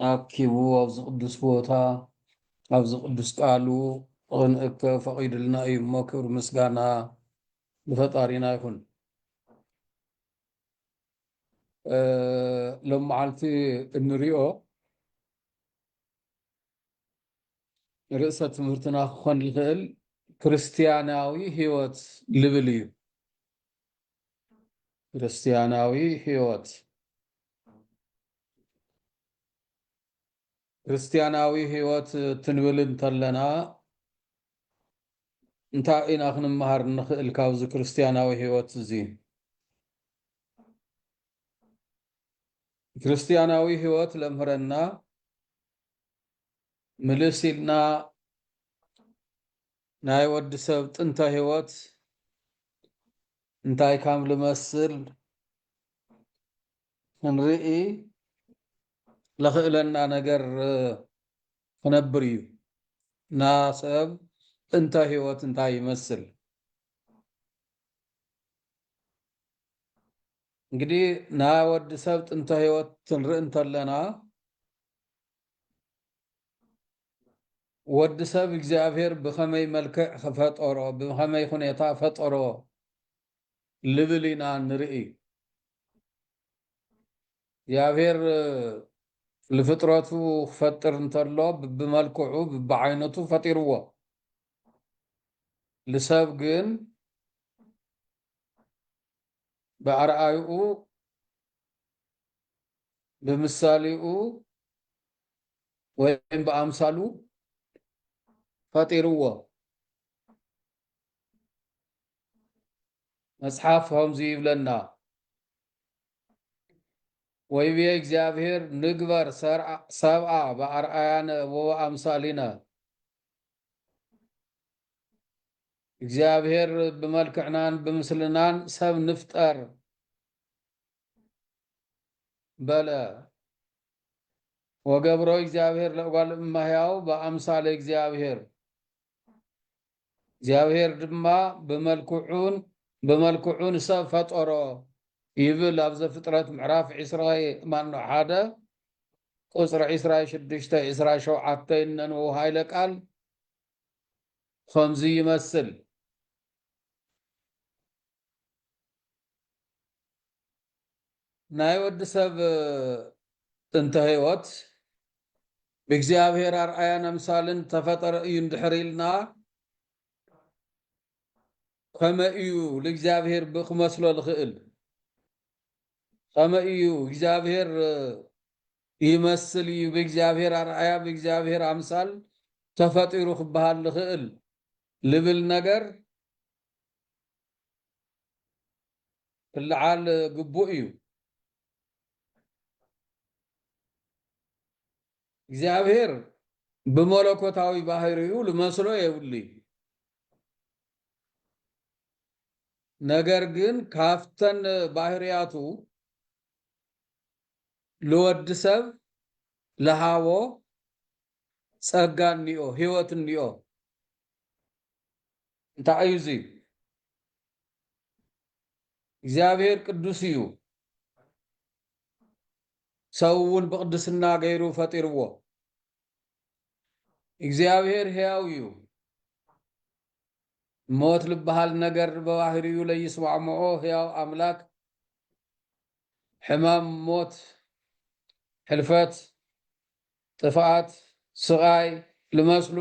ኣኪቡ ኣብዚ ቅዱስ ቦታ ኣብዚ ቅዱስ ቃሉ ኽንእከብ ፈቒዱልና እዩ እሞ ክብሪ ምስጋና ንፈጣሪና ይኹን። ሎም መዓልቲ እንሪኦ ርእሰ ትምህርትና ክኾን ዝኽእል ክርስትያናዊ ህይወት ልብል እዩ። ክርስትያናዊ ህይወት ክርስትያናዊ ሕይወት ትንብል እንተለና እንታይ ኢና ክንመሃር እንኽእል ካብዚ ክርስትያናዊ ሕይወት እዚ? ክርስትያናዊ ሕይወት ለምህረና ምልስ ኢልና ናይ ወዲ ሰብ ጥንተ ሕይወት እንታይ ካም ልመስል ክንርኢ ለኽእለና ነገር ክነብር እዩ እና ሰብ እንተ ህይወት እንታይ ይመስል እንግዲህ ናይ ወዲ ሰብ ጥንተ ህይወት ትንርኢ እንተለና ወዲ ሰብ እግዚኣብሔር ብኸመይ መልክዕ ክፈጠሮ ብኸመይ ሁኔታ ፈጠሮ ልብል ኢና ንርኢ። እግዚኣብሔር ልፍጥረቱ ክፈጥር እንተሎ ብብመልክዑ ብብዓይነቱ ፈጢርዎ። ልሰብ ግን ብኣርኣይኡ ብምሳሌኡ ወይም ብኣምሳሉ ፈጢርዎ። መጽሓፍ ከምዚ ይብለና ወይቤ እግዚኣብሔር ንግበር ሰብኣ ብኣርኣያነ ወበኣምሳሊነ እግዚኣብሔር ብመልክዕናን ብምስልናን ሰብ ንፍጠር በለ ወገብሮ እግዚኣብሔር ለእጓል እማህያው ብኣምሳለ እግዚኣብሔር እግዚኣብሄር ድማ ብመልክዑን ብመልክዑ ንሰብ ፈጠሮ ይብል ኣብ ዘፍጥረት ምዕራፍ ዕስራ ማኖ ሓደ ቁፅሪ ዕስራ ሽዱሽተ ዕስራ ሸውዓተ ይነንው ሃይለ ቃል ከምዚ ይመስል ናይ ወዲ ሰብ ጥንተ ሕይወት ብእግዚኣብሔር ኣርኣያን ኣምሳልን ዝተፈጠረ እዩ እንድሕር ኢልና ከመይ እዩ ልእግዚኣብሔር ብክመስሎ ልኽእል? ኸመይ እዩ እግዚኣብሔር ይመስል እዩ ብእግዚኣብሔር ኣርኣያ ብእግዚኣብሔር ኣምሳል ተፈጢሩ ክበሃል ልኽእል ልብል ነገር ክልዓል ግቡእ እዩ። እግዚኣብሔር ብመለኮታዊ ባህሪኡ ልመስሎ የብሉይ። ነገር ግን ካፍተን ባህርያቱ ልወዲ ሰብ ልሃቦ ጸጋ እኒኦ ህይወት እኒኦ እንታይ እዩ እዙይ? እግዚኣብሔር ቅዱስ እዩ። ሰው እውን ብቅድስና ገይሩ ፈጢርዎ። እግዚኣብሔር ሕያው እዩ። ሞት ልበሃል ነገር ብባህሪኡ ለይስማዕምዖ ሕያው ኣምላክ ሕማም፣ ሞት፣ ሕልፈት፣ ጥፍኣት፣ ስቓይ ልመስሉ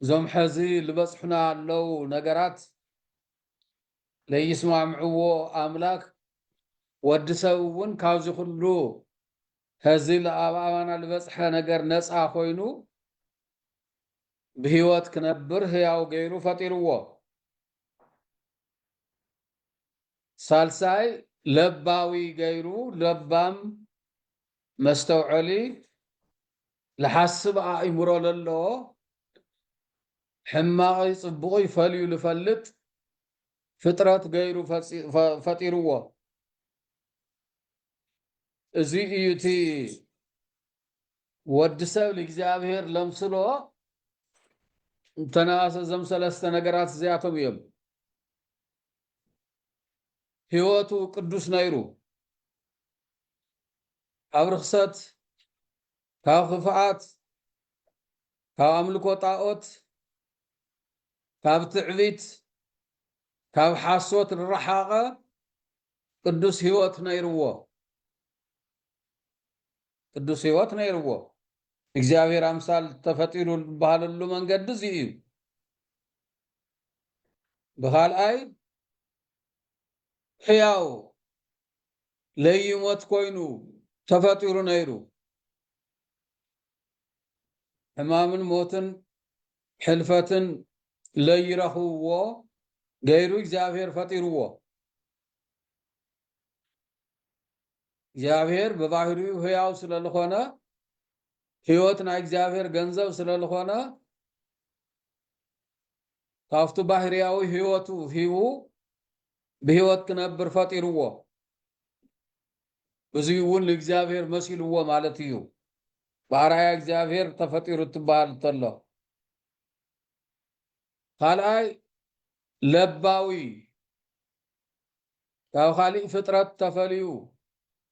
እዞም ሐዚ ልበፅሑና ኣለው ነገራት ለይስማምዕዎ ኣምላክ ወዲ ሰብ እውን ካብዚ ኩሉ ሐዚ ኣብ ኣባና ልበፅሐ ነገር ነፃ ኮይኑ ብህይወት ክነብር ህያው ገይሩ ፈጢርዎ ሳልሳይ ለባዊ ገይሩ ለባም መስተውዐሊ ልሓስብ ኣእምሮ ለለዎ፣ ሕማቕይ ጽቡቕይ ፈልዩ ልፈልጥ ፍጥረት ገይሩ ፈጢርዎ። እዚ እዩ እቲ ወዲ ሰብ ልእግዚኣብሔር ለምስሎ እንተነኣሰ እዞም ሰለስተ ነገራት እዚኣቶም እዮም። ህይወቱ ቅዱስ ነይሩ፣ ካብ ርኽሰት፣ ካብ ኽፍኣት፣ ካብ ኣምልኮ ጣኦት፣ ካብ ትዕቢት፣ ካብ ሓሶት ርሓቐ ቅዱስ ሕይወት ነይርዎ። ቅዱስ ሕይወት ነይርዎ። እግዚኣብሔር ኣምሳል ተፈጢሩ ዝበሃለሉ መንገዲ እዚ እዩ። ብኻልኣይ ሕያው ለይሞት ኮይኑ ተፈጢሩ ነይሩ። ሕማምን ሞትን ሕልፈትን ለይረኽብዎ ገይሩ እግዚኣብሔር ፈጢርዎ። እግዚኣብሔር ብባህሪኡ ህያው ስለልኾነ ህይወት ናይ እግዚኣብሔር ገንዘብ ስለልኾነ ካብቱ ባህርያዊ ህይወቱ ሂቡ ብህይወት ክነብር ፈጢርዎ። እዙይ እውን ንእግዚኣብሔር መሲልዎ ማለት እዩ። ብኣርኣያ እግዚኣብሔር ተፈጢሩ እትበሃል እተሎ። ካልኣይ ለባዊ ካብ ካሊእ ፍጥረት ተፈልዩ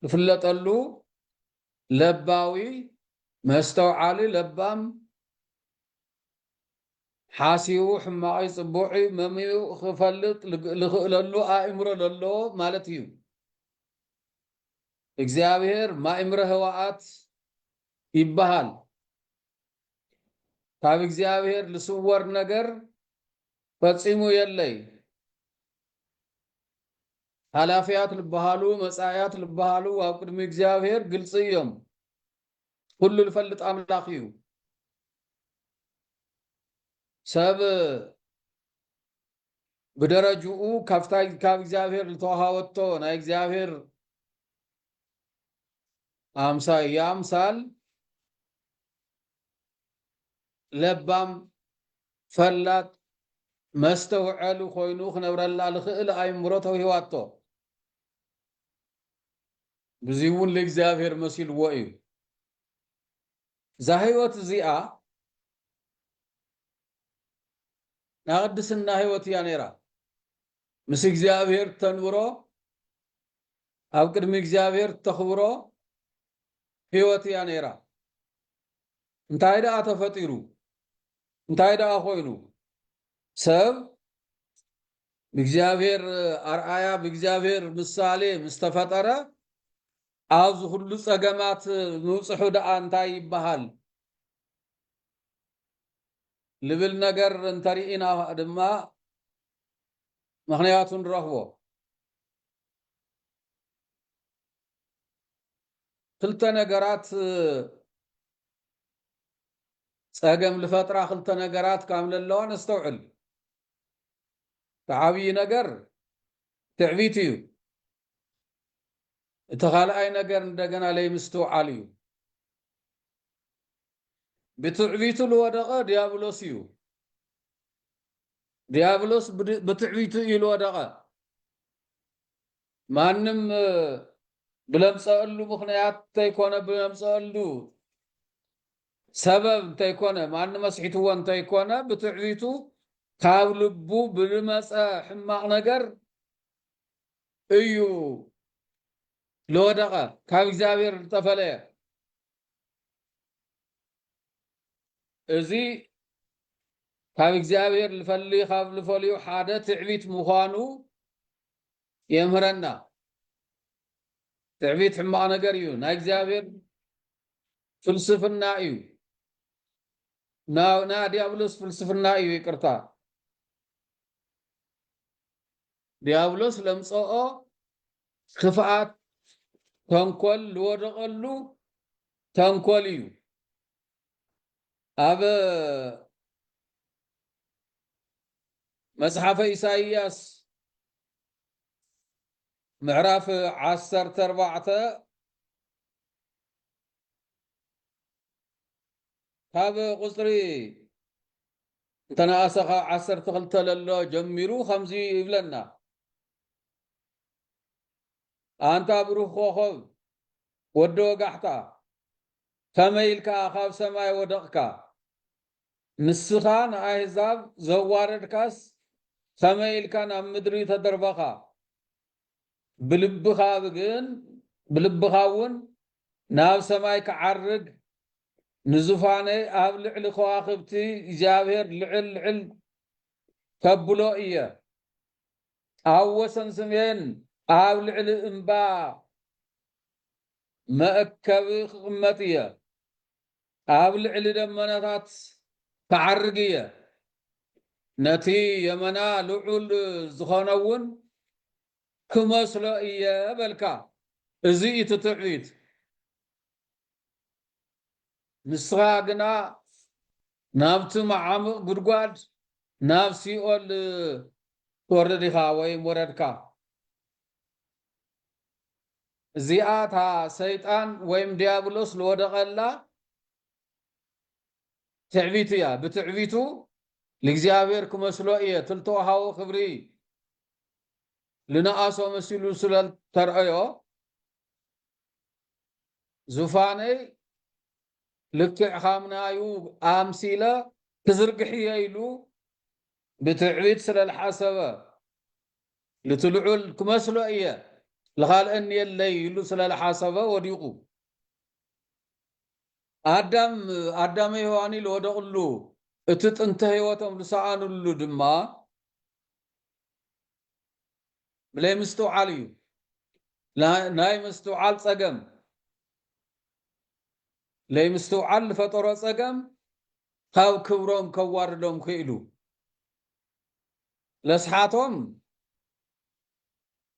ዝፍለጠሉ ለባዊ መስተውዓሊ ለባም ሓሲዉ ሕማቕይ ጽቡቕይ መምዩ ኽፈልጥ ልኽእለሉ ኣእምሮ ለለዎ ማለት እዩ። እግዚኣብሔር ማእምረ ህዋኣት ይበሃል። ካብ እግዚኣብሔር ልስወር ነገር ፈጺሙ የለይ። ሓላፍያት ልበሃሉ መጻእያት ልበሃሉ ኣብ ቅድሚ እግዚኣብሔር ግልጺ እዮም። ኩሉ ልፈልጥ ኣምላኽ እዩ። ሰብ ብደረጅኡ ካብታ ካብ እግዚኣብሔር ዝተዋሃወቶ ናይ እግዚኣብሔር ኣምሳይ ኣምሳል ለባም ፈላጥ መስተውዐሊ ኮይኑ ክነብረላ ዝኽእል ኣይምሮ ተውሂዋቶ ብዙይ እውን ለእግዚኣብሔር መሲልዎ እዩ እዛ ሕይወት እዚኣ ናይ ቕድስና ሕይወት እያ ነይራ። ምስ እግዚኣብሔር እተንብሮ፣ ኣብ ቅድሚ እግዚኣብሔር እተኽብሮ ሕይወት እያ ነይራ። እንታይ ደኣ ተፈጢሩ? እንታይ ደኣ ኮይኑ? ሰብ ብእግዚኣብሔር ኣርኣያ ብእግዚኣብሔር ምሳሌ ምስ ተፈጠረ ኣዚ ኩሉ ጸገማት ምብጽሑ ደኣ እንታይ ይበሃል ልብል ነገር እንተ ሪኢና ድማ ምክንያቱ ንረክቦ። ክልተ ነገራት ጸገም ልፈጥራ ክልተ ነገራት ካም ለለዋ ነስተውዕል። እቲ ዓብዪ ነገር ትዕቢት እዩ። እቲ ካልኣይ ነገር እንደገና ለይምስትውዓል እዩ። ብትዕቢቱ ልወደቐ ዲያብሎስ እዩ። ዲያብሎስ ብትዕቢቱ እዩ ልወደቐ። ማንም ብለምፀእሉ ምክንያት እንተይኮነ ብለምፀእሉ ሰበብ እንተይኮነ ማን መስሒትዎ እንተይኮነ ብትዕቢቱ ካብ ልቡ ብልመፀ ሕማቕ ነገር እዩ ለወደቐ ካብ እግዚኣብሔር ዝተፈለየ እዚ ካብ እግዚኣብሔር ልፈሊ ካብ ልፈልዩ ሓደ ትዕቢት ምዃኑ የምህረና ትዕቢት ሕማቕ ነገር እዩ ናይ እግዚኣብሔር ፍልስፍና እዩ ናይ ዲያብሎስ ፍልስፍና እዩ ይቅርታ ድያብሎስ ለምጸኦ ክፍኣት ተንኮል ልወደቐሉ ተንኮል እዩ ኣብ መጽሓፈ ኢሳይያስ ምዕራፍ ዓሰርተ ኣርባዕተ ካብ ቁፅሪ እንተነኣሰ ካብ ዓሰርተ ክልተ ለሎ ጀሚሩ ከምዚ ይብለና። ኣንታ ብሩኽ ኮኾብ ወዲ ወጋሕታ ከመይ ኢልካ ካብ ሰማይ ወደቕካ? ንስኻ ንኣህዛብ ዘዋረድካስ ከመይ ኢልካ ናብ ምድሪ ተደርበኻ? ብልብኻ ግን ብልብኻ እውን ናብ ሰማይ ክዓርግ ንዙፋነይ ኣብ ልዕሊ ከዋኽብቲ እግዚኣብሔር ልዕል ልዕል ከብሎ እየ ኣብ ወሰን ስሜን ኣብ ልዕሊ እምባ መእከቢ ክቕመጥ እየ። ኣብ ልዕሊ ደመናታት ክዓርግ እየ፣ ነቲ የመና ልዑል ዝዀነውን ክመስሎ እየ በልካ። እዚ እዩ እቲ ትዕቢት። ንስኻ ግና ናብቲ መዓሙቕ ጕድጓድ፣ ናብ ሲኦል ትወርድ ኢኻ ወይም ወረድካ። እዚኣ እታ ሰይጣን ወይም ድያብሎስ ልወደቐላ ትዕቢቱ እያ። ብትዕቢቱ ልእግዚኣብሔር ክመስሎ እየ ትልተውሃቦ ክብሪ ልነኣሶ መሲሉ ስለልተርእዮ ዙፋነይ ልክዕ ካምናዩ ኣምሲለ ክዝርግሕየ ኢሉ ብትዕቢት ስለልሓሰበ ንቲ ልዑል ክመስሎ እየ ልኻልእኒ የለይ ኢሉ ስለ ልሓሰበ ወዲቁ ኣዳም ኣዳመ ሄዋን ኢሉ ወደቅሉ እቲ ጥንተ ህይወቶም ልሰኣንሉ ድማ ብለይ ምስትውዓል እዩ ናይ ምስትውዓል ጸገም ለይ ምስትውዓል ልፈጠሮ ጸገም ካብ ክብሮም ከዋርዶም ክኢሉ ነስሓቶም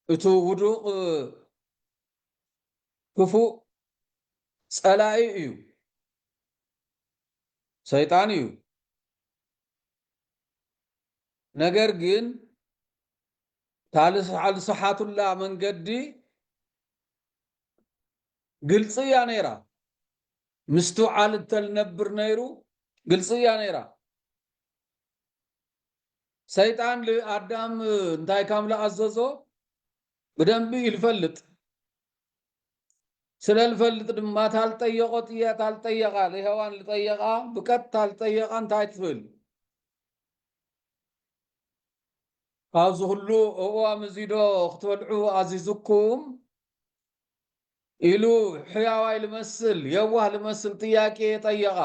እቱ ውዱቕ ክፉእ ፀላኢ እዩ፣ ሰይጣን እዩ። ነገር ግን ታልስሓቱላ መንገዲ ግልፂ እያ ነይራ ምስትውዓል እተልነብር ነይሩ ግልፂ እያ ነይራ ሰይጣን ልኣዳም እንታይ ካም ልኣዘዞ ብደንቢ እዩ ልፈልጥ ስለ ልፈልጥ ድማ ታልጠየቆ ጥያ ታልጠየቃ ልሄዋን ልጠየቃ ብቀጥ ታልጠየቃ እንታይ ትብል ካብዚ ኩሉ እዋም እዚ ዶ ክትበልዑ ኣዚዝኩም ኢሉ ሕያዋይ ልመስል የዋህ ልመስል ጥያቄ ጠየቓ።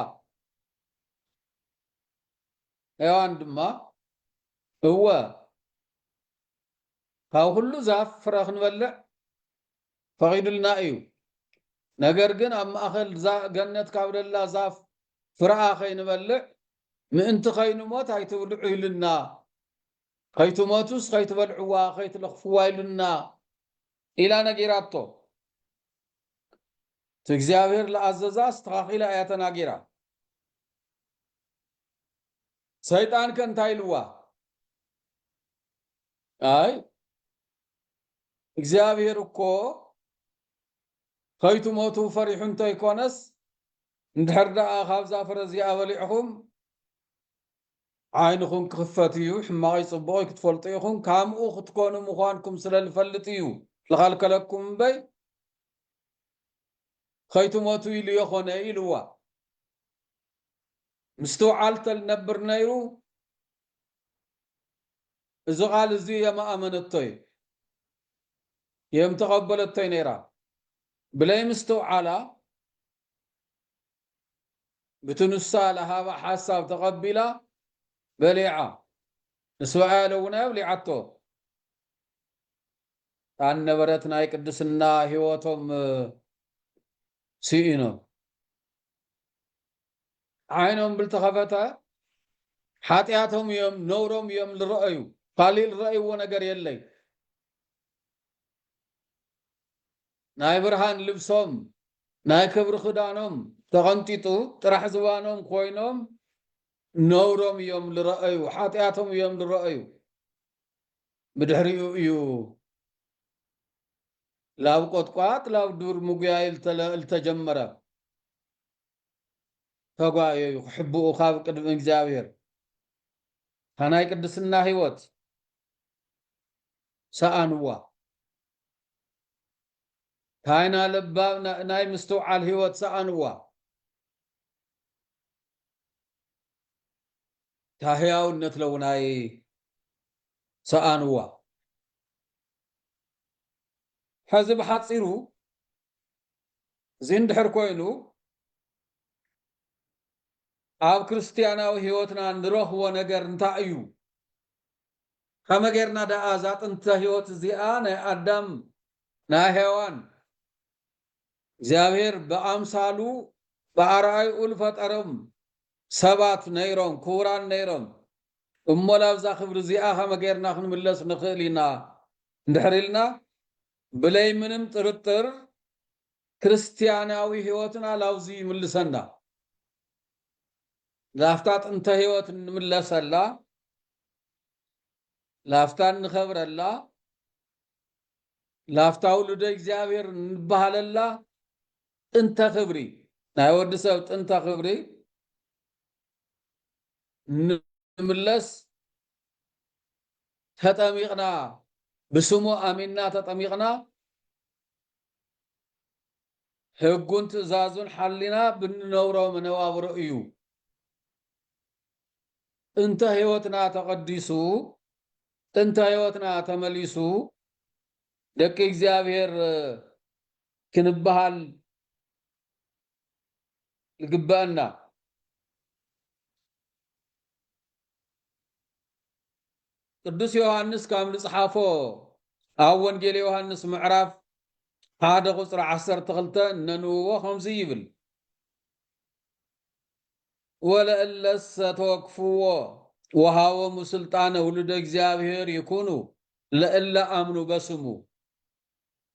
ሔዋን ድማ እወ ካብ ኩሉ ዛፍ ፍረ ክንበልዕ ፈቒዱልና እዩ፣ ነገር ግን ኣብ ማእኸል ገነት ካብ ደላ ዛፍ ፍረኣ ከይንበልዕ ምእንቲ ከይንሞት ኣይትብልዑ ኢሉና፣ ከይትሞቱስ ከይትበልዕዋ ከይትለኽፍዋ ኢሉና ኢላ ነጊራቶ። እቲ እግዚኣብሔር ዝኣዘዛ ኣስተኻኺላ እያ ተናጊራ። ሰይጣን ከ እንታይ ኢልዋ ኣይ እግዚኣብሔር እኮ ከይትሞቱ ፈሪሑ እንተይኮነስ እንድሕር ደኣ ካብዛ ፍረ እዚኣ በሊዕኹም ዓይንኹም ክኽፈት እዩ ሕማቐይ ጽቡቕይ ክትፈልጡ ኢኹም ከምኡ ክትኮኑ ምዃንኩም ስለ ዝፈልጥ እዩ ዝኸልከለኩም እምበይ ከይትሞቱ ኢሉ የኾነ ኢልዋ ምስትውዓል ተልነብር ነይሩ እዚ ቃል እዚ የምኣመነቶይ የምተቐበለቶይ ነይራ ብለይ ምስትውዓላ ብቲ ንሳ ለሃባ ሓሳብ ተቐቢላ በሊዓ ንስብኣያ ለውናዮ ብሊዓቶ ጣን ነበረት ናይ ቅድስና ህይወቶም ስኢኖም ዓይኖም ብልተኸፈተ ሓጢኣቶም እዮም ነውሮም እዮም ልረአዩ ካሊእ ልረእይዎ ነገር የለይ ናይ ብርሃን ልብሶም ናይ ክብሪ ክዳኖም ተቐንጢጡ ጥራሕ ዝባኖም ኮይኖም ነውሮም እዮም ልረአዩ ሓጢኣቶም እዮም ልረአዩ ብድሕሪኡ እዩ ላብ ቆጥቋጥ ላብ ዱር ምጉያይ እልተጀመረ ተጓየዩ ክሕብኡ ካብ ቅድሚ እግዚኣብሔር ታናይ ቅድስና ህይወት ሰኣንዋ ታይና ለባብ ናይ ምስትውዓል ህይወት ሰኣንዋ ታህያውነት ለውናይ ሰኣንዋ ሐዚ ብሓፂሩ እዚ እንድሕር ኮይኑ ኣብ ክርስትያናዊ ሕይወትና ንረኽቦ ነገር እንታይ እዩ? ከመይ ጌርና ደኣ እዛ ጥንተ ሕይወት እዚኣ ናይ ኣዳም ናይ ሔዋን እግዚኣብሔር ብኣምሳሉ ብኣርኣይኡ ልፈጠሮም ሰባት ነይሮም ክቡራን ነይሮም እሞ ላብዛ ክብሪ እዚኣ ከመ ገይርና ክንምለስ ንክእል ኢና እንድሕር ኢልና ብለይ ምንም ጥርጥር ክርስትያናዊ ሕይወትና ላብዙይ ይምልሰና። ላፍታ ጥንተ ሕይወት እንምለሰላ ላፍታ እንከብረላ ላፍታ ውሉደ እግዚኣብሔር እንበሃለላ ጥንተ ክብሪ ናይ ወዲ ሰብ ጥንተ ክብሪ ንምለስ ተጠሚቕና ብስሙ ኣሚንና ተጠሚቕና ሕጉን ትእዛዙን ሓሊና ብንነብሮ መነባብሮ እዩ እንተ ሕይወትና ተቐዲሱ፣ ጥንተ ሕይወትና ተመሊሱ፣ ደቂ እግዚኣብሔር ክንበሃል ይግበእና። ቅዱስ ዮሐንስ ካብ ንጽሓፎ ኣብ ወንጌል ዮሐንስ ምዕራፍ ሓደ ቁፅሪ ዓሰርተ ክልተ ነንውዎ ከምዚ ይብል ወለእለሰ ተወክፍዎ ወሃቦሙ ሥልጣነ ውሉደ እግዚኣብሔር ይኩኑ ለእለ አምኑ በስሙ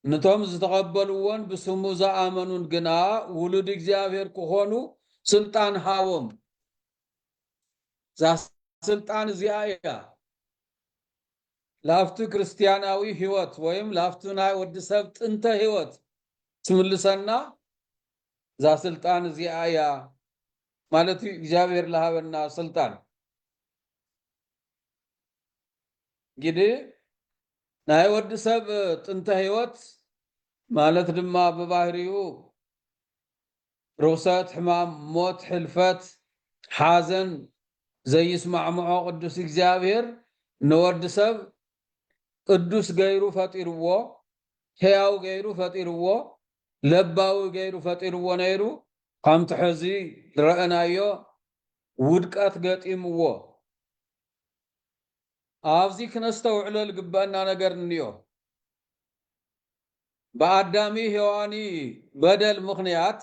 ንቶም ዝተቐበልዎን ብስሙ ዝኣመኑን ግና ውሉድ እግዚኣብሔር ክኾኑ ሥልጣን ሃቦም። እዛ ሥልጣን እዚኣ እያ ላፍቱ ክርስቲያናዊ ሕይወት ወይም ላፍቱ ናይ ወዲ ሰብ ጥንተ ሕይወት ትምልሰና እዛ ስልጣን እዚኣ እያ ማለት እዩ እግዚኣብሔር ልሃበና ስልጣን ግዲ ናይ ወዲ ሰብ ጥንተ ህይወት ማለት ድማ ብባህሪኡ ርኽሰት፣ ሕማም፣ ሞት፣ ሕልፈት፣ ሓዘን ዘይስማዕምዖ ቅዱስ እግዚኣብሔር ንወዲ ሰብ ቅዱስ ገይሩ ፈጢርዎ፣ ሕያው ገይሩ ፈጢርዎ፣ ለባዊ ገይሩ ፈጢርዎ ነይሩ። ከምቲ ሕዚ ዝረእናዮ ውድቀት ገጢምዎ። ኣብዚ ክነስተውዕሎ ዝግበእና ነገር እኒኦ። ብኣዳሚ ሄዋኒ በደል ምኽንያት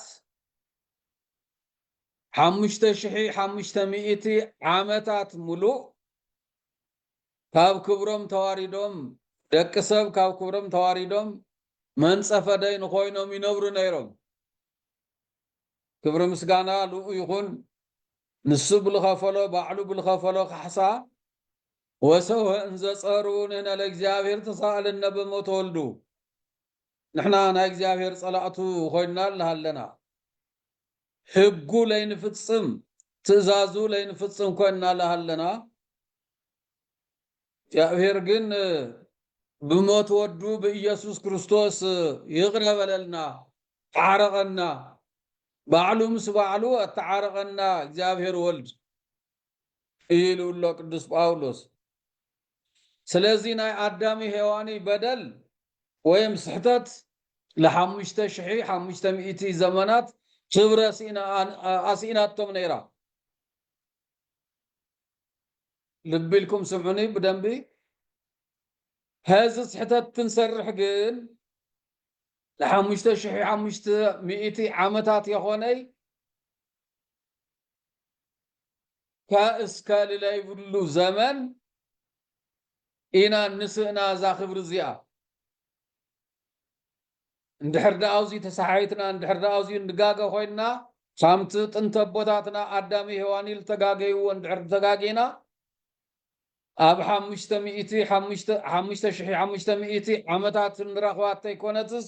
ሓሙሽተ ሽሒ ሓሙሽተ ሚእቲ ዓመታት ምሉእ ካብ ክብሮም ተዋሪዶም ደቂ ሰብ ካብ ክብሮም ተዋሪዶም መንጸፈ ደይን ኮይኖም ይነብሩ ነይሮም ክብሪ ምስጋና ልኡ ይኹን ንሱ ብልኸፈሎ ባዕሉ ብልኸፈሎ ካሕሳ ወሰውሀ እንዘጸሩ ንህነ ለእግዚኣብሔር ተሳእልነ በሞት ወልዱ ንሕና ናይ እግዚኣብሔር ጸላእቱ ኮይንና ኣለና ህጉ ለይንፍጽም ትእዛዙ ለይንፍጽም ኮይንና ለሃለና፣ እግዚኣብሔር ግን ብሞት ወዱ ብኢየሱስ ክርስቶስ ይቕረ በለልና፣ ተዓረቐና፣ ባዕሉ ምስ ባዕሉ ኣተዓረቐና እግዚኣብሔር ወልድ ኢሉ ኣሎ ቅዱስ ጳውሎስ። ስለዚ ናይ ኣዳሚ ሄዋኒ በደል ወይም ስሕተት ን ሓሙሽተ ሽሒ ሓሙሽተ ሚእቲ ዘመናት ክብረ ኣሲኢናቶም ነይራ። ልቢ ኢልኩም ስምዑኒ ብደንቢ ሀዚ ስሕተት ክንሰርሕ ግን ን ሓሙሽተ ሽሒ ሓሙሽተ ሚእቲ ዓመታት የኾነይ እስከ ልለይብሉ ዘመን ኢና ንስእና እዛ ክብሪ እዚኣ። እንድሕር ደኣ ኣብዙይ ተሰሓሒትና፣ እንድሕር ደኣ ኣብዙይ ንጋገ ኮይንና፣ ከምቲ ጥንቲ ኣቦታትና ኣዳም ሄዋን ዝተጋገይዎ እንድሕር ተጋጊና፣ ኣብ ሓሙሽተ ሚእቲ ሓሙሽተ ሽሕ ሓሙሽተ ሚእቲ ዓመታት ንረኽባ እንተይኮነትስ፣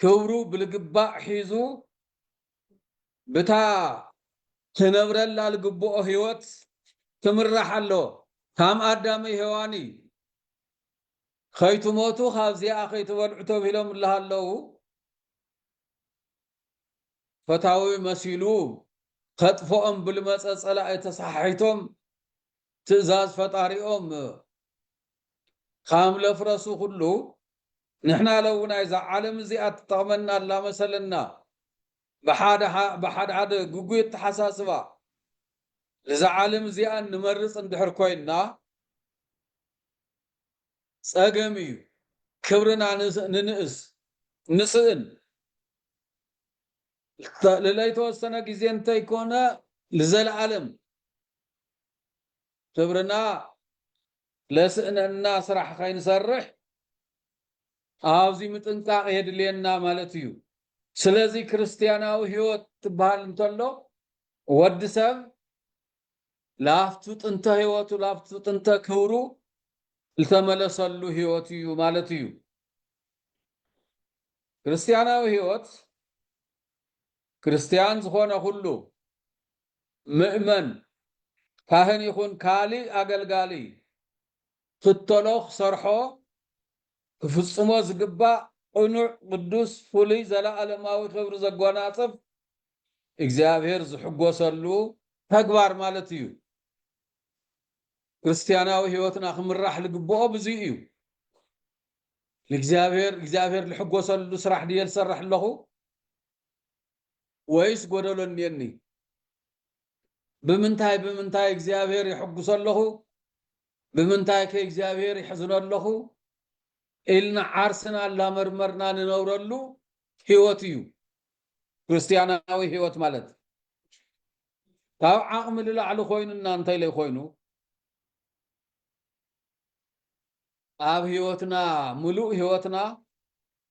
ክብሩ ብልግባእ ሒዙ ብታ ክነብረላ ልግብኦ ህይወት ክምራሕ ኣለዎ ካም ኣዳምይ ሄዋን እዩ ኸይትሞቱ ካብዚኣ ከይትበልዑ ተብሂሎም እላሃለዉ ፈታዊ መሲሉ ከጥፍኦም ብልመፀ ፀላኢ ተሰሓሒቶም ትእዛዝ ፈጣሪኦም ካም ለፍረሱ ኩሉ ንሕና ለውና እዛ ዓለም እዚኣ ትጠቕመና ኣላ መሰለና ብሓድሓደ ግጉይ ኣተሓሳስባ ንዛ ዓለም እዚኣ እንመርጽ እንድሕር ኮይንና ጸገም እዩ። ክብርና ንንእስ፣ ንስእን። ልለይተወሰነ ግዜ እንተይኮነ ልዘለኣለም ክብርና ለስእነና ስራሕ ከይንሰርሕ ኣዝዩ ምጥንቃቕ የድልየና ማለት እዩ። ስለዚ ክርስትያናዊ ሕይወት ትበሃል እንተሎ ወዲ ሰብ ላብቱ ጥንተ ሕይወቱ ላብቱ ጥንተ ክብሩ ዝተመለሰሉ ሕይወት እዩ ማለት እዩ። ክርስትያናዊ ሕይወት ክርስትያን ዝኾነ ኩሉ ምእመን፣ ካህን ይኹን ካልእ ኣገልጋሊ ክኽተሎ፣ ክሰርሖ፣ ክፍጽሞ ዝግባእ ቅኑዕ፣ ቅዱስ፣ ፍሉይ፣ ዘለኣለማዊ ክብሪ ዘጎናጽፍ፣ እግዚኣብሔር ዝሕጎሰሉ፣ ተግባር ማለት እዩ። ክርስትያናዊ ሕይወትና ክምራሕ ልግብኦ ብዙይ እዩ። ንእግዚኣብሔር እግዚኣብሔር ልሕጎሰሉ ስራሕ ድየ ልሰርሕ ኣለኹ? ወይስ ጎደሎ እኒኤኒ? ብምንታይ ብምንታይ እግዚኣብሔር የሕጉሶ ኣለኹ? ብምንታይ ከ እግዚኣብሔር የሕዝኖ ኣለኹ? ኢልና ዓርስና እላመርመርና ንነብረሉ ሕይወት እዩ ክርስትያናዊ ሕይወት ማለት። ካብ ዓቕሚ ልላዕሊ ኮይኑና እንተይለይ ኮይኑ ኣብ ሕይወትና ምሉእ ሕይወትና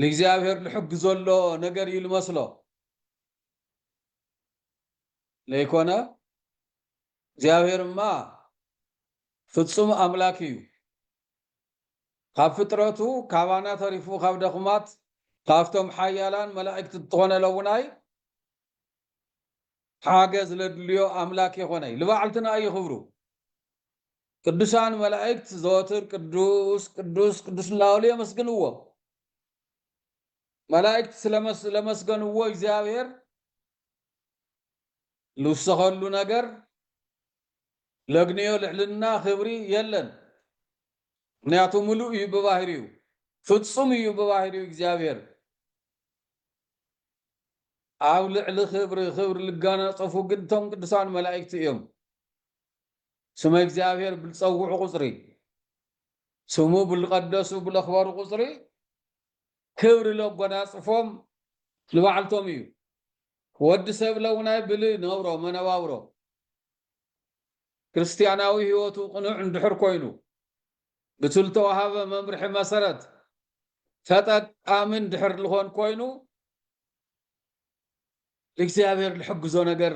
ልእግዚኣብሔር ልሕግ ዘሎ ነገር እዩ ልመስሎ ለይኮነ እግዚኣብሔር እማ ፍጹም ኣምላክ እዩ ካብ ፍጥረቱ ካባና ተሪፉ ካብ ደኹማት ካብቶም ሓያላን መላእክት እትኾነ ለውናይ ሓገዝ ለድልዮ ኣምላክ የኾነይ ልባዕልትና እዩ ክብሩ ቅዱሳን መላእክት ዘወትር ቅዱስ ቅዱስ ቅዱስ እናበሉ የመስግንዎ። መላእክት ስለመስለመስገንዎ እግዚኣብሔር ልውሰኸሉ ነገር ለግንዮ ልዕልና ክብሪ የለን። ምክንያቱ ምሉእ እዩ ብባህሪኡ፣ ፍጹም እዩ ብባህሪኡ እግዚኣብሔር ኣብ ልዕሊ ክብሪ ክብሪ ልጋናጸፉ ግን እቶም ቅዱሳን መላእክቲ እዮም። ስመ እግዚኣብሔር ብልፀውዑ ቁፅሪ፣ ስሙ ብልቀደሱ ብለክበሩ ቁፅሪ ክብሪ ለጎናፅፎም ንባዕልቶም እዩ። ወዲ ሰብ ለውናይ ብሊ ነብሮ መነባብሮ ክርስቲያናዊ ሕይወቱ ቅኑዕ እንድሕር ኮይኑ ብትልተዋሃበ መምርሒ መሰረት ተጠቃሚ እንድሕር ልኾን ኮይኑ እግዚኣብሔር ልሕግዞ ነገር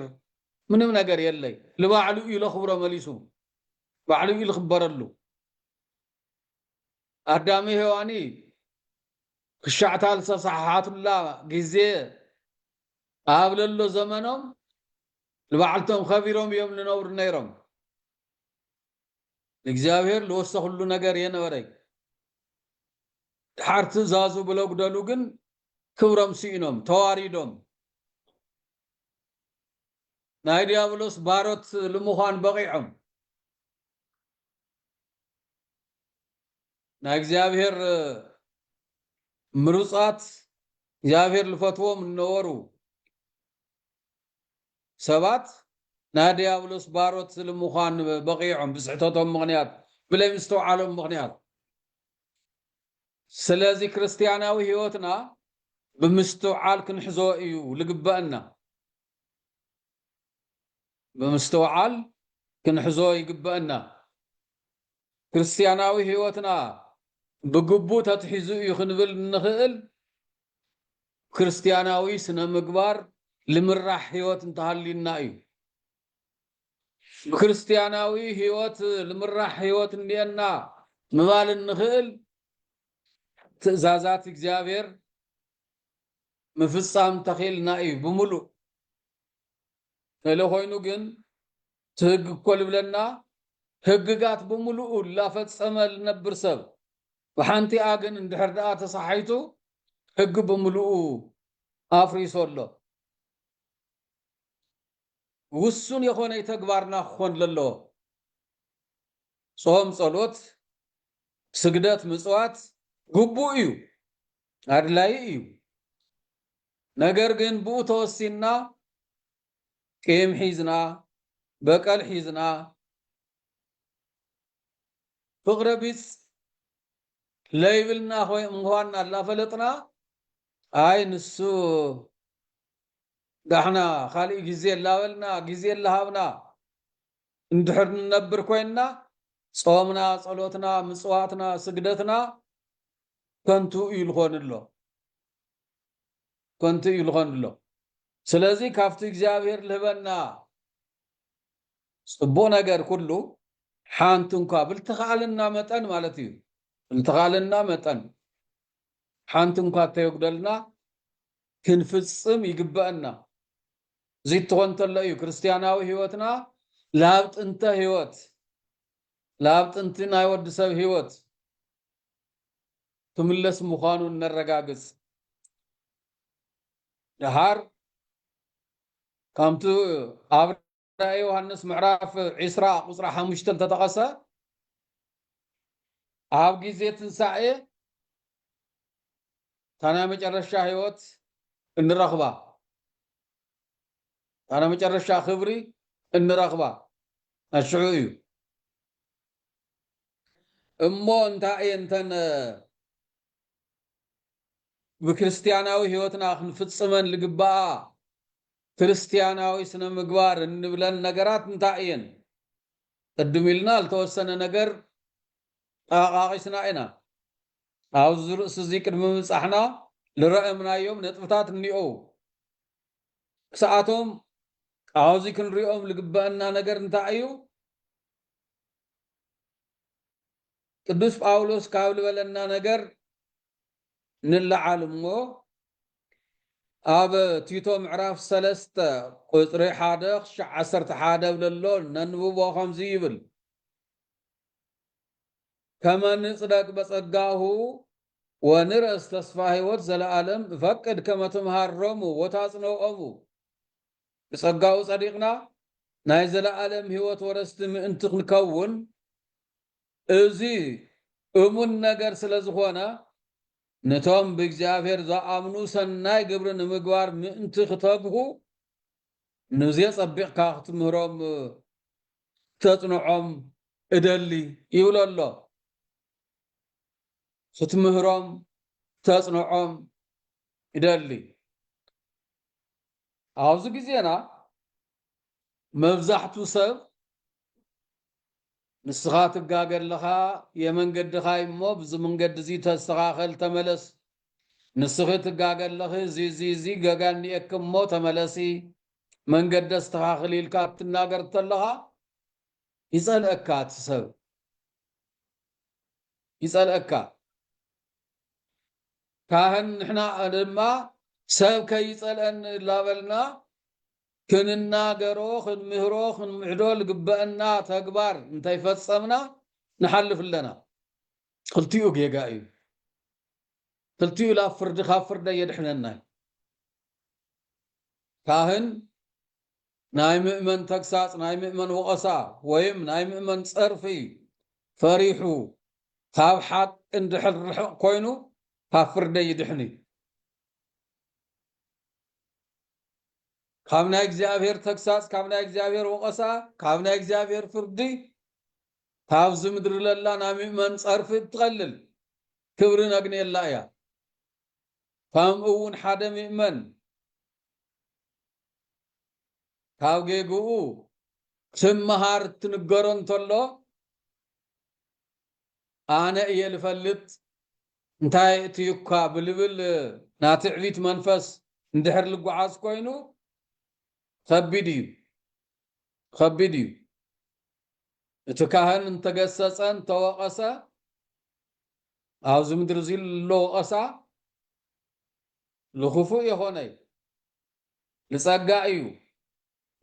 ምንም ነገር የለይ ልባዕሉ እዩ ለኽብሮ መሊሱ ባዕሉ እዩ ልኽበረሉ ኣዳሚ ሔዋኒ ክሻዕታ ልሰሳሓሓቱላ ግዜ ኣብ ለሎ ዘመኖም ልባዕልቶም ኸቢሮም እዮም ልነብሩ ነይሮም እግዚኣብሔር ልወሰ ኩሉ ነገር የነበረይ ድሓር ትእዛዙ ብለጉደሉ ግን ክብሮም ስኢኖም ተዋሪዶም ናይ ዲያብሎስ ባሮት ልምዃን በቒዖም ናይ እግዚኣብሔር ምሩፃት እግዚኣብሔር ልፈትዎም እነበሩ ሰባት ናይ ድያብሎስ ባሮት ስልምዃን በቒዖም ብስሕተቶም ምኽንያት ብለይ ምስትውዓሎም ምኽንያት ስለዚ ክርስትያናዊ ሕይወትና ብምስትውዓል ክንሕዞ እዩ ልግበእና ብምስትውዓል ክንሕዞ ይግበእና። ክርስትያናዊ ሕይወትና ብግቡእ ተትሒዙ እዩ ክንብል እንኽእል ብክርስትያናዊ ስነ ምግባር ልምራሕ ሕይወት እንተሃልዩና እዩ። ብክርስትያናዊ ሕይወት ልምራሕ ሕይወት እንኤና ምባል እንኽእል ትእዛዛት እግዚኣብሔር ምፍጻም ተኺእልና እዩ ብምሉእ። ተለኾይኑ ግን እቲ ህግ እኮ ልብለና ህግጋት ብምሉኡ ላፈጸመ ልነብር ሰብ ብሓንቲኣ ግን እንድሕር ድኣ ተሳሓይቱ ህግ ብምሉኡ ኣፍሪሱ ኣሎ። ውሱን የኾነይ ተግባርና ክኾን ለለዎ። ጾም ጸሎት ስግደት ምጽዋት ግቡእ እዩ ኣድላዪ እዩ። ነገር ግን ብኡ ተወሲንና ቂም ሒዝና በቀል ሒዝና ፍቅረ ቢጽ ለይብልና ኮይ እንኳና ኣላፈለጥና ኣይ ንሱ ዳሕና ካልእ ግዜ ላበልና ግዜ ላሃብና እንድሕር ንነብር ኮይንና ጾምና ጸሎትና ምጽዋትና ስግደትና ከንቱ እዩ ልኾን ኣሎ። ኮንቱ እዩ ልኾንሎ ስለዚ ካብቲ እግዚኣብሔር ልህበና ጽቡቅ ነገር ኩሉ ሓንቲ እንኳ ብልትኻልና መጠን ማለት እዩ ብልትኻልና መጠን ሓንቲ እንኳ እተየጉደልና ክንፍጽም ይግበእና እዚ እትኾን ተሎ እዩ ክርስትያናዊ ህይወትና ላብ ጥንተ ህይወት ላብ ጥንቲ ናይ ወዲ ሰብ ህይወት ክምለስ ምዃኑ እነረጋግጽ። ደሓር ከምቲ ኣብ ራእይ ዮሃንስ ምዕራፍ ዕስራ ቁጽሪ ሓሙሽተ ዝተጠቐሰ ኣብ ግዜ ትንሳኤ እታ ናይ መጨረሻ ህይወት እንረኽባ እታ ናይ መጨረሻ ክብሪ እንረኽባ ኣሽዑ እዩ። እሞ እንታይ እየን እተን ብክርስትያናዊ ሕይወትና ክንፍጽመን ልግባኣ ክርስትያናዊ ስነ ምግባር እንብለን ነገራት እንታይ እየን? ቅድም ኢልና ዝተወሰነ ነገር ጠቓቒስና ኢና። ኣብዚ ርእሲ እዚ ቅድሚ ምብጻሕና ልረእምናዮም ነጥብታት እኒኦው። ክሳኣቶም ኣብዚ ክንሪኦም ልግበእና ነገር እንታይ እዩ? ቅዱስ ጳውሎስ ካብ ልበለና ነገር ንለዓል እሞ ኣብ ቲቶ ምዕራፍ ሰለስተ ቁጽሪ ሓደ ክሻዕ ዓሰርተ ሓደ ብለሎ ነንብቦ ከምዚ ይብል ከመ ንጽደቅ በጸጋሁ ወንረስ ተስፋ ሕይወት ዘለዓለም እፈቅድ ከመ ትምሃሮሙ ወታጽንኦሙ ብጸጋኡ ጸዲቕና ናይ ዘለኣለም ህይወት ወረስቲ ምእንቲ ክንከውን፣ እዚ እሙን ነገር ስለ ዝኾነ፣ ነቶም ብእግዚኣብሔር ዝኣምኑ ሰናይ ግብሪ ንምግባር ምእንቲ ክተግሁ፣ ኑዚ ኣጸቢቕካ ክትምህሮም ክተጽንዖም እደሊ ይብሎ ኣሎ። ክትምህሮም ክተጽንዖም እደሊ። ኣብዚ ግዜና መብዛሕቱ ሰብ ንስኻ ትጋገ ኣለኻ የመንገድኻ እዩ እሞ ብዚ ምንገዲ እዚ ተስተኻኸል ተመለስ ንስኺ ትጋገ ኣለኺ እዚ እዚ እዚ ገጋ እኒኤኪ እሞ ተመለሲ መንገዲ ኣስተኻኽሊ ኢልካ ክትናገር ተለኻ ይጸልአካ እቲ ሰብ ይጸልአካ ካህን ንሕና ድማ ሰብ ከይጸልኣኒ እላበልና ክንናገሮ ክንምህሮ ክንምዕዶ ልግበእና ተግባር እንተይፈጸምና ንሓልፍ ኣለና ክልቲኡ ጌጋ እዩ ክልቲኡ ላብ ፍርዲ ካብ ፍርዲ ኣየድሕነናይ ካህን ናይ ምእመን ተግሳጽ፣ ናይ ምእመን ወቐሳ ወይም ናይ ምእመን ጸርፊ ፈሪሑ ካብ ሓቂ እንድሕር ርሕቕ ኮይኑ ካብ ፍርደይ ይድሕን እዩ። ካብ ናይ እግዚኣብሔር ተግሳጽ፣ ካብ ናይ እግዚኣብሔር ወቐሳ፣ ካብ ናይ እግዚኣብሔር ፍርዲ፣ ካብዚ ምድሪ ለላ ናይ ምእመን ጸርፊ እትቐልል ክብሪ ነግንየላ እያ። ከምኡ እውን ሓደ ምእመን ካብ ጌግኡ ክምሃር ትንገሮ እንተሎ ኣነ እየ ልፈልጥ እንታይ እትዩካ ብልብል ናይ ትዕቢት መንፈስ እንድሕር ልጓዓዝ ኮይኑ ኸቢድ እዩ ኸቢድ እዩ እቲ ካህን እንተገሰጸ እንተወቐሰ ኣብዚ ምድሪ እዚ ዘሎ ወቐሳ ልኽፉእ የኾነይ ብጸጋ እዩ፣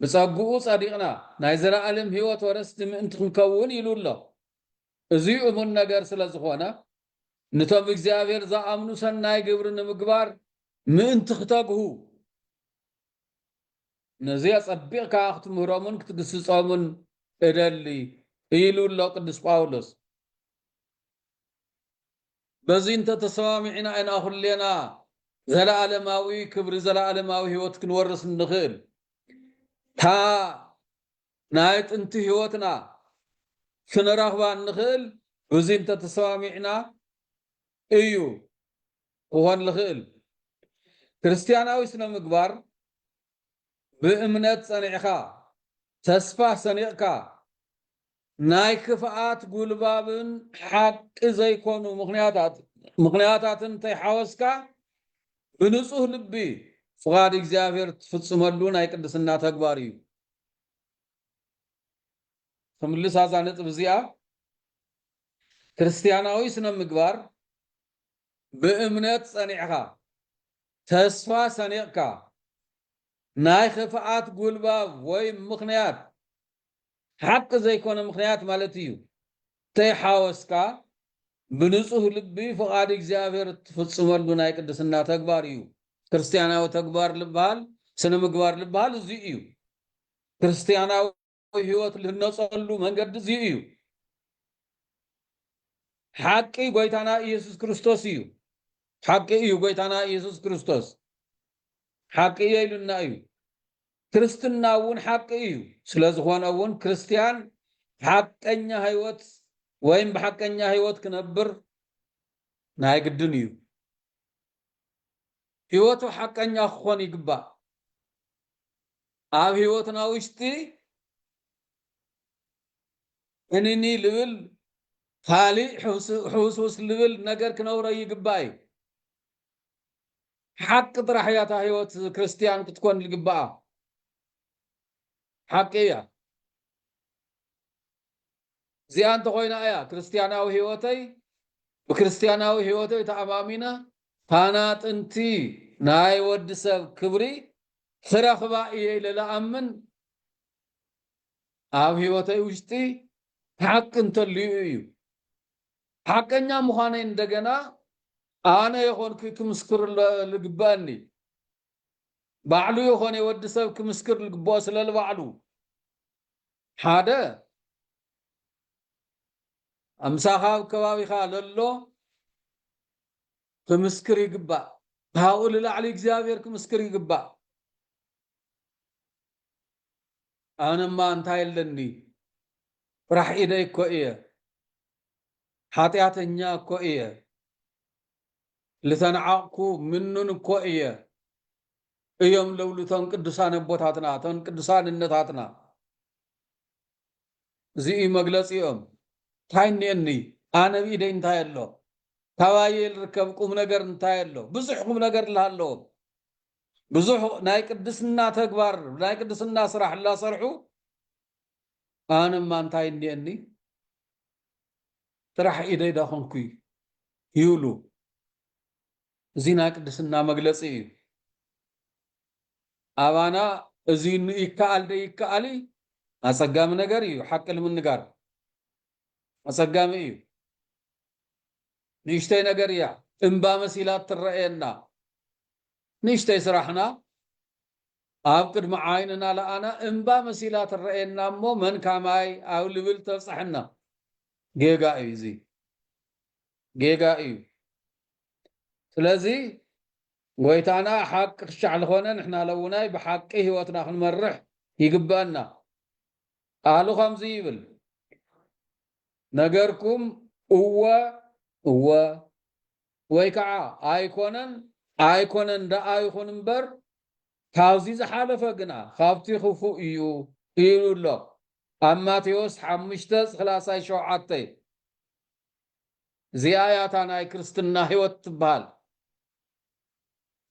ብጸግኡ ጸዲቕና ናይ ዘለኣለም ህይወት ወረስቲ ምእንቲ ክንከውን ኢሉ ኣሎ። እዚ እሙን ነገር ስለ ዝኾነ ንቶም እግዚኣብሔር ዝኣምኑ ሰናይ ግብሪ ንምግባር ምእንቲ ክተግሁ ነዚ ኣጸቢቕካ ክትምህሮምን ክትግስጾምን እደሊ ኢሉ ኣሎ ቅዱስ ጳውሎስ። በዚ እንተ ተሰማሚዕና ኢና ኩሌና ዘለኣለማዊ ክብሪ ዘለኣለማዊ ህይወት ክንወርስ እንኽእል። እታ ናይ ጥንቲ ህይወትና ክንረኽባ እንኽእል ብዚ እንተ ተሰማሚዕና እዩ ክኾን ልኽእል። ክርስትያናዊ ስነ ምግባር ብእምነት ጸኒዕካ ተስፋ ሰኒቕካ ናይ ክፍኣት ጉልባብን ሓቂ ዘይኮኑ ምኽንያታትን እንተይሓወስካ ብንጹህ ልቢ ፍቓድ እግዚኣብሔር እትፍጽመሉ ናይ ቅድስና ተግባር እዩ። ክምልስ ኣዛ ነጥብ እዚኣ ክርስትያናዊ ስነ ምግባር ብእምነት ጸኒዕካ ተስፋ ሰኒቕካ ናይ ኽፍኣት ጉልባብ ወይ ምኽንያት ሓቂ ዘይኮነ ምኽንያት ማለት እዩ። ተይሓወስካ ብንጹህ ልቢ ፍቓድ እግዚኣብሔር እትፍጽመሉ ናይ ቅድስና ተግባር እዩ። ክርስትያናዊ ተግባር ልበሃል ስነ ምግባር ልበሃል እዚ እዩ። ክርስትያናዊ ሕይወት ልህነጸሉ መንገዲ እዚ እዩ። ሓቂ ጎይታና ኢየሱስ ክርስቶስ እዩ። ሓቂ እዩ ጎይታና ኢየሱስ ክርስቶስ ሓቂ እየ ኢሉና እዩ። ክርስትና እውን ሓቂ እዩ። ስለዝኾነ እውን ክርስትያን ሓቀኛ ህይወት ወይም ብሓቀኛ ህይወት ክነብር ናይ ግድን እዩ። ህይወቱ ሓቀኛ ክኾን ይግባእ። ኣብ ህይወትና ውሽጢ እኒኒ ልብል ካሊእ ሕውስውስ ልብል ነገር ክነብሮ ይግባእ እዩ። ሓቂ ጥራሕ እያ እታ ህይወት ክርስትያን ክትኮን ልግብኣ ሓቂ እያ እዚኣ እንተኾይና እያ ክርስትያናዊ ህይወተይ ብክርስትያናዊ ህይወተይ ተኣማሚነ ታና ጥንቲ ናይ ወዲ ሰብ ክብሪ ክረኽባ እየ ኢለ ልኣምን ኣብ ህይወተይ ውሽጢ ሓቂ እንተልዩ እዩ ሓቀኛ ምዃነይ እንደገና ኣነ የኾንኩይ ክምስክር ልግበእኒ ባዕሉ የኾነይ ወዲ ሰብ ክምስክር ልግበኦ ስለ ልባዕሉ ሓደ ኣምሳኻ ኣብ ከባቢኻ ለሎ ክምስክር ይግባእ ካብኡ ልላዕሊ እግዚኣብሔር ክምስክር ይግባእ ኣነማ እንታይ ኣለኒ ጥራሕ ኢደይ እኮ እየ ሓጥያተኛ እኮ እየ ልተንዓቕኩ ምኑን እኮ እየ እዮም ለብሉ እቶም ቅዱሳን ኣቦታትና እቶም ቅዱሳን እነታትና እዚ እዩ መግለፂኦም እንታይ እኒኤኒ ኣነ ብኢደይ እንታይ ኣሎ ካባየ ልርከብ ቁም ነገር እንታይ ኣሎ ብዙሕ ቁም ነገር ልሃለዎ ብዙሕ ናይ ቅድስና ተግባር ናይ ቅድስና ስራሕ ላሰርሑ ኣንማ እንታይ እኒኤኒ ጥራሕ ኢደይ ዳኾንኩይ ዩሉ እዚ ናይ ቅድስና መግለፂ እዩ ኣባና እዚ ን ይከኣል ደይከኣል ኣፀጋሚ ነገር እዩ ሓቂ ልምንጋር ኣፀጋሚ እዩ ንእሽተይ ነገር እያ እምባ መሲላ ትረእየና ንእሽተይ ስራሕና ኣብ ቅድሚ ዓይንና ለኣና እምባ መሲላ ትረኣየና እሞ መንካ ማይ ኣብ ልብል ተብፀሐና። ጌጋ እዩ እዚ ጌጋ እዩ ስለዚ ጎይታና ሓቂ ክሻዕ ልኾነ ንሕና ለውናይ ብሓቂ ህይወትና ክንመርሕ ይግበእና ቃሉ ከምዚ ይብል ነገርኩም እወ እወ ወይ ከዓ ኣይኮነን ኣይኮነን ደኣ ይኹን እምበር ካብዚ ዝሓለፈ ግና ካብቲ ክፉእ እዩ ኢሉ ኣሎ ኣብ ማቴዎስ ሓሙሽተ ስላሳይ ሸውዓተይ እዚኣ እያ እታ ናይ ክርስትና ህይወት ትበሃል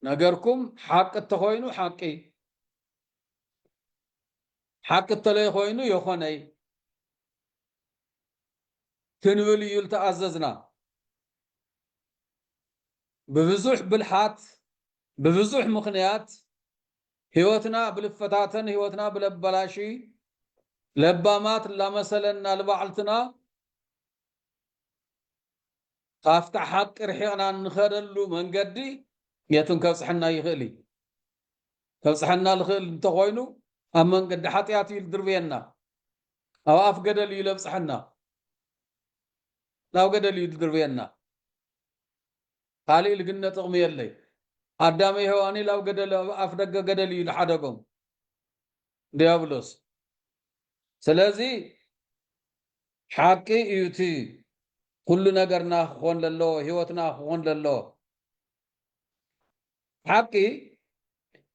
ነገርኩም ሓቂ እተኾይኑ ሓቂ ሓቂ እተለይ ኾይኑ የኾነይ ክንብል እዩ ዝተኣዘዝና ብብዙሕ ብልሓት ብብዙሕ ምኽንያት ህይወትና ብልፈታተን ህይወትና ብለበላሺ ለባማት ላመሰለና ልባዕልትና ካፍታ ሓቂ ርሒቕና እንኸደሉ መንገዲ የቱን ከብጽሐና ይኽእል እዩ ከብጽሐና ልኽእል እንተኾይኑ ኣብ መንገዲ ሓጢኣት እዩ ድርብየና ኣብ ኣፍ ገደል እዩ ለብጽሐና ናብ ገደል እዩ ድድርብየና ካልእ ልግነ ጥቅሚ የለይ ኣዳመ ሄዋኒ ላብ ገደል ኣብ ኣፍ ደገ ገደል እዩ ድሓደጎም ድያብሎስ ስለዚ ሓቂ እዩ እቲ ኩሉ ነገርና ክኾን ለለዎ ሂወትና ክኾን ለለዎ ሓቂ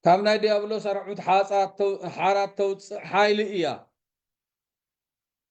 ካብ ናይ ድያብሎስ ኣርዑት ሓራት ተውፅእ ሓይሊ እያ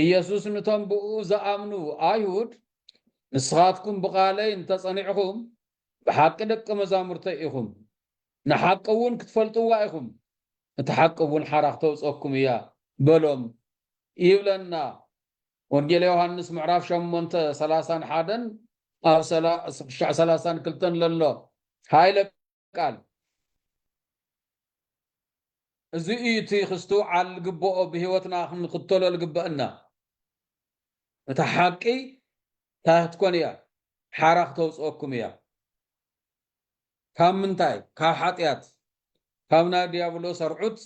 ኢየሱስ ንቶም ብእኡ ዝኣምኑ ኣይሁድ ንስኻትኩም ብቓለይ እንተ ጸኒዕኹም ብሓቂ ደቀ መዛሙርተይ ኢኹም፣ ንሓቂ እውን ክትፈልጥዋ ኢኹም፣ እታ ሓቂ እውን ሓራ ክተውጸኩም እያ በሎም ይብለና ወንጌል ዮሃንስ ምዕራፍ ሸሞንተ ሰላሳን ሓደን ኣብ ክሻዕ ሰላሳን ክልተን ለሎ ሃይለ ቃል። እዚ እዩ እቲ ክስትውዓል ዝግብኦ ብህይወትና ክንኽተሎ ዝግበእና። እታ ሓቂ ታህትኮን እያ ሓራ ክተውጽኦኩም እያ። ካብ ምንታይ ካብ ሓጥያት ካብ ናይ ድያብሎስ ኣርዑት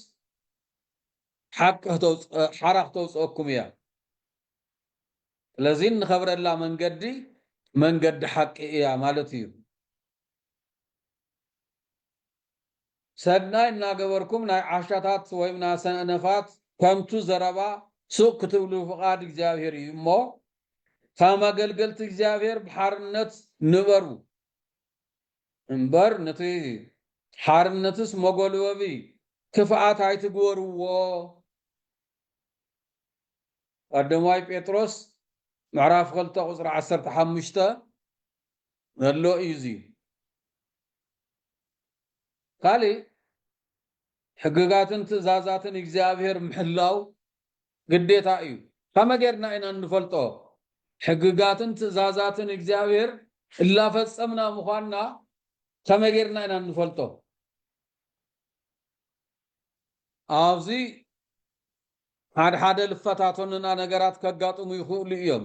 ሓቂ ክተውጽእ ሓራ ክተውጽኦኩም እያ። ስለዚ እንኸብረላ መንገዲ መንገዲ ሓቂ እያ ማለት እዩ። ሰናይ እናገበርኩም ናይ ዓሻታት ወይም ናይ ሰነፋት ከንቱ ዘረባ ሱቕ ክትብሉ ፍቓድ እግዚኣብሔር እዩ እሞ ከም ኣገልገልቲ እግዚኣብሔር ብሓርነት ንበሩ እምበር ነቲ ሓርነትስ መጎልበቢ ክፍኣት ኣይትግበርዎ ቀዳማይ ጴጥሮስ ምዕራፍ ክልተ ቁፅሪ ዓሰርተ ሓሙሽተ ዘሎ እዩ ዝዩ ካልእ ሕግጋትን ትእዛዛትን እግዚኣብሔር ምሕላው ግዴታ እዩ ከመ ጌርና ኢና እንፈልጦ ሕግጋትን ትእዛዛትን እግዚኣብሔር እላፈጸምና ምዃንና ከመ ጌርና ኢና እንፈልጦ ኣብዚ ሓድሓደ ልፈታቶንና ነገራት ከጋጥሙ ይኽእሉ እዮም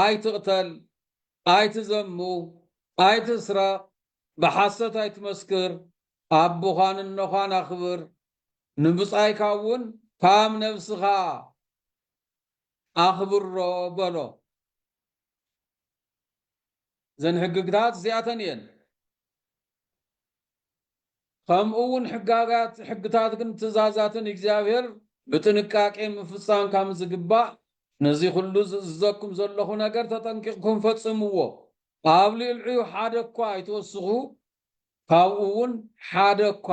ኣይትቕተል፣ ኣይትዘሙ፣ ኣይትስረቕ፣ ብሓሰት ኣይትመስክር፣ ኣቦኻን እኖኻን ኣኽብር፣ ንብጻይካ እውን ከም ነብስኻ ኣኽብሮ በሎ። እዘን ሕግግታት እዚኣተን እየን። ከምኡውን ሕጋጋት፣ ሕግታትግን ትእዛዛትን እግዚኣብሔር ብጥንቃቄ ምፍጻም ካም ዝግባእ፣ ነዚ ኹሉ ዝእዝዘኩም ዘሎኹ ነገር ተጠንቂቕኩም ፈጽምዎ፣ ኣብ ልዕሊኡ ሓደ እኳ ኣይትወስኹ፣ ካብኡውን ሓደ እኳ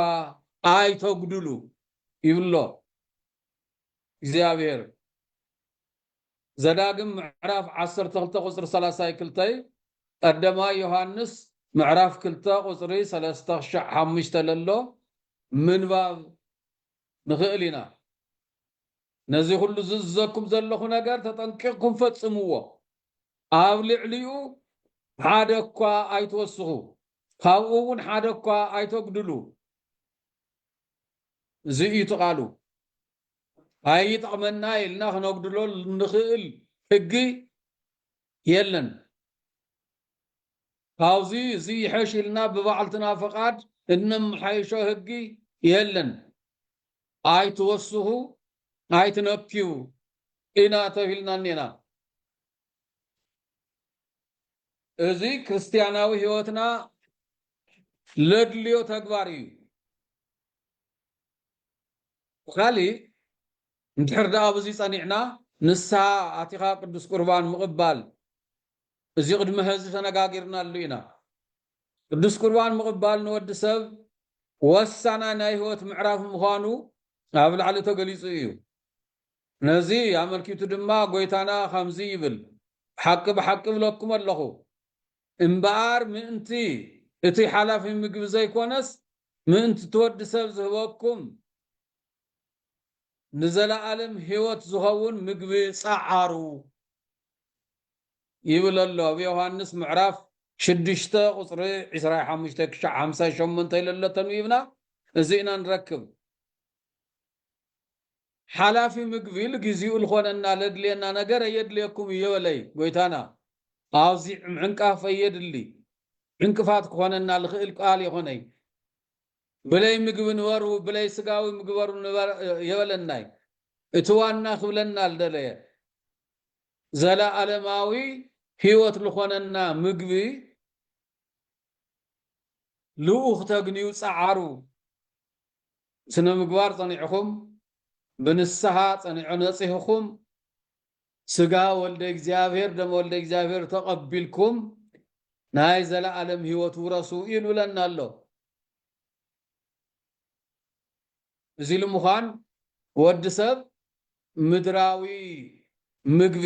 ኣይተጉድሉ ይብሎ እግዚኣብሔር። ዘዳግም ምዕራፍ ዓሰርተ ክልተ ቁጽሪ ሰላሳይ ክልተይ ቀደማይ ዮሃንስ ምዕራፍ ክልተ ቁጽሪ ሰለስተ ክሻዕ ሓሙሽተ ለሎ ምንባብ ንኽእል ኢና። ነዚ ኹሉ ዝእዝዘኩም ዘለኹ ነገር ተጠንቂቕኩም ፈጽምዎ፣ ኣብ ልዕሊኡ ሓደ እኳ ኣይትወስኹ፣ ካብኡ እውን ሓደ እኳ ኣይተጉድሉ፣ እዚ እዩ እቲ ቃሉ። ኣይጠቕመና ኢልና ክነጉድሎ ንኽእል ሕጊ የለን። ካብዚ እዚ ይሐሽ ኢልና ብባዕልትና ፈቓድ እነመሓይሾ ሕጊ የለን። ኣይትወስኹ ኣይትነክዩ ኢና ተብሂልና እኔና። እዚ ክርስትያናዊ ሕይወትና ለድልዮ ተግባር እዩ። ብካሊእ እንድሕር ደኣ ኣብዚ ጸኒዕና ንስሃ ኣቲኻ ቅዱስ ቁርባን ምቕባል እዚ ቅድሚ ሀዚ ተነጋጊርናሉ ኢና። ቅዱስ ቁርባን ምቕባል ንወዲ ሰብ ወሳናይ ናይ ሕይወት ምዕራፍ ምዃኑ ኣብ ላዕሊ ተገሊጹ እዩ። ነዚ ኣመልኪቱ ድማ ጎይታና ከምዚ ይብል ብሓቂ ብሓቂ እብለኩም ኣለኹ እምበኣር ምእንቲ እቲ ሓላፊ ምግቢ ዘይኮነስ ምእንቲ እቲ ወዲ ሰብ ዝህበኩም ንዘለኣለም ሕይወት ዝኸውን ምግቢ ጸዓሩ ይብል ኣሎ ኣብ ዮሃንስ ምዕራፍ ሽዱሽተ ቁጽሪ ዕስራይ ሓሙሽተ ክሻዕ ሓምሳይ ሸሞንተ ኢለሎ ተንቢብና እዚእና ንረክብ። ሓላፊ ምግቢ ልጊዚኡ ልኾነና ለድልየና ነገር ኣየድልየኩም እዮ በለይ ጎይታና። ኣዚዕ ምዕንቃፍ ኣየድሊ ዕንቅፋት ክኾነና ልኽእል ቃል የኾነይ ብለይ ምግቢ ንበሩ ብለይ ስጋዊ ምግበሩ ንበር የበለናይ እቲ ዋና ክብለና ልደለየ ዘለኣለማዊ ሕይወት ልኾነና ምግቢ ልኡኽ ተግንዩ ጸዓሩ ስነምግባር ጸኒዕኹም ብንስሓ ጸኒዖ ነጺህኹም ስጋ ወልደ እግዚኣብሔር ደም ወልደ እግዚኣብሔር ተቐቢልኩም ናይ ዘለዓለም ሕይወት ውረሱ ይብለና ኣሎ። እዚ ኢሉ ምዃን ወዲ ሰብ ምድራዊ ምግቢ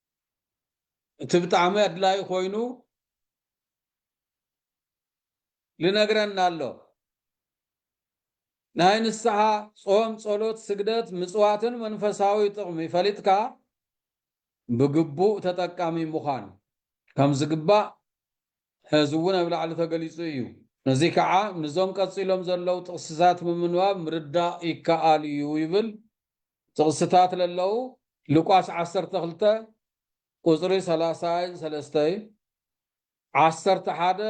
እቲ ብጣዕሚ ኣድላይ ኮይኑ ልነግረና ኣሎ ናይ ንስሓ ጾም ጸሎት ስግደት ምጽዋትን መንፈሳዊ ጥቕሚ ፈሊጥካ ብግቡእ ተጠቃሚ ምዃን ከም ዝግባእ ሕዚ እውን ኣብ ላዕሊ ተገሊጹ እዩ ነዚ ከዓ ንዞም ቀጺሎም ዘለዉ ጥቕስታት ብምንባብ ምርዳእ ይከኣል እዩ ይብል ጥቕስታት ለለዉ ሉቃስ ዓሰርተ ክልተ ቁጽሪ ሰላሳይ ሰለስተይ፣ ዓሰርተ ሓደ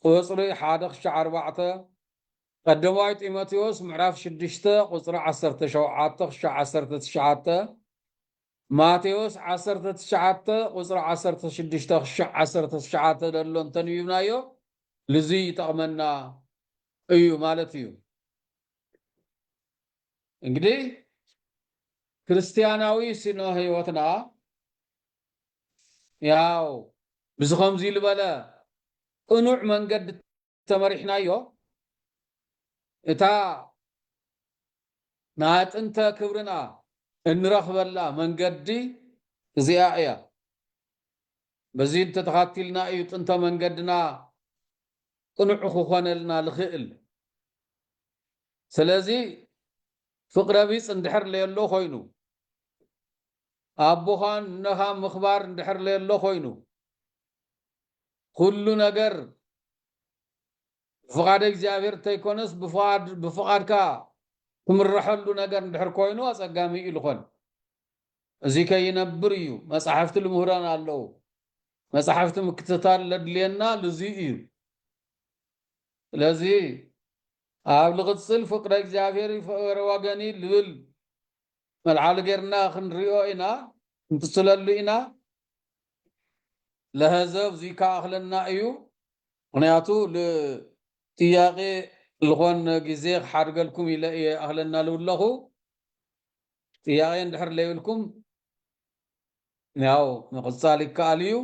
ቁጽሪ ሓደ ክሻዕ ኣርባዕተ፣ ቀደማይ ጢሞቴዎስ ምዕራፍ ሽዱሽተ ቁጽሪ ዓሰርተ ሸውዓተ ክሻዕ ዓሰርተ ትሽዓተ፣ ማቴዎስ ዓሰርተ ትሽዓተ ቁጽሪ ዓሰርተ ሽዱሽተ ክሻዕ ዓሰርተ ትሽዓተ ለሎ እንተንቢብናዮ ልዙይ ይጠቕመና እዩ ማለት እዩ። እንግዲህ ክርስቲያናዊ ስነ ህይወትና ያው ብዚ ከምዚ ዝበለ ቅኑዕ መንገዲ ተመሪሕናዮ እታ ናይ ጥንተ ክብርና እንረኽበላ መንገዲ እዚኣ እያ። በዚ እንተተኻቲልና እዩ ጥንተ መንገድና ቅኑዕ ክኾነልና ዝኽእል። ስለዚ ፍቅረቢጽ እንድሕር ለየሎ ኮይኑ፣ ኣቦኻን እነኻን ምኽባር እንድሕር ለየሎ ኮይኑ፣ ኩሉ ነገር ብፍቃደ እግዚኣብሔር እንተይኮነስ ብፍቃድካ ትምረሐሉ ነገር እንድሕር ኮይኑ ኣጸጋሚ እዩ ልኾን። እዚ ከይነብር እዩ መጻሕፍቲ ልምህረና ኣለዉ። መጻሕፍቲ ምክትታል ለድልየና ልዙይ እዩ። ስለዚ ኣብ ልቕጽል ፍቅረ እግዚኣብሔር ይፍኧረ ወገኒ ልብል መልዓሊ ገርና ክንሪኦ ኢና ክንትስለሉ ኢና ለሀዘብ ዝይከኣክለና እዩ ምክንያቱ ል ጥያቄ ልኾን ግዜ ክሓድገልኩም ኢለ እየ ኣክለና ልብለኹ ጥያቄ እንድሕር ለይብልኩም ያው ምቕጻል ይከኣል እዩ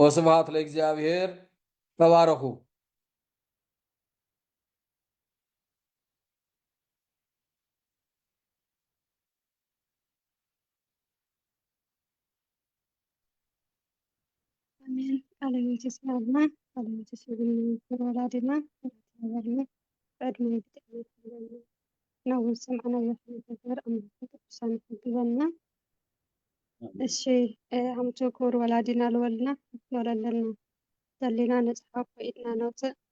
ወስብሃት ለእግዚኣብሔር ተባረኹ። ኣሜን ቃለ ሕይወት የስምዓልና ቃለ ሕይወት የስምዓልና ክቡር ወላዲና ተባረክና ብዕድመ ብጥዕና ይሓልወና ናብ ዝሰማዕናዮ ክንተግብር ኣምላክ ቅዱሳን ይሕግዘና እሺ ኣምቱ ክቡር ወላዲና ልወልና ንወለለና ዘለና ነፃ ካብ ኢድና ነውፅእ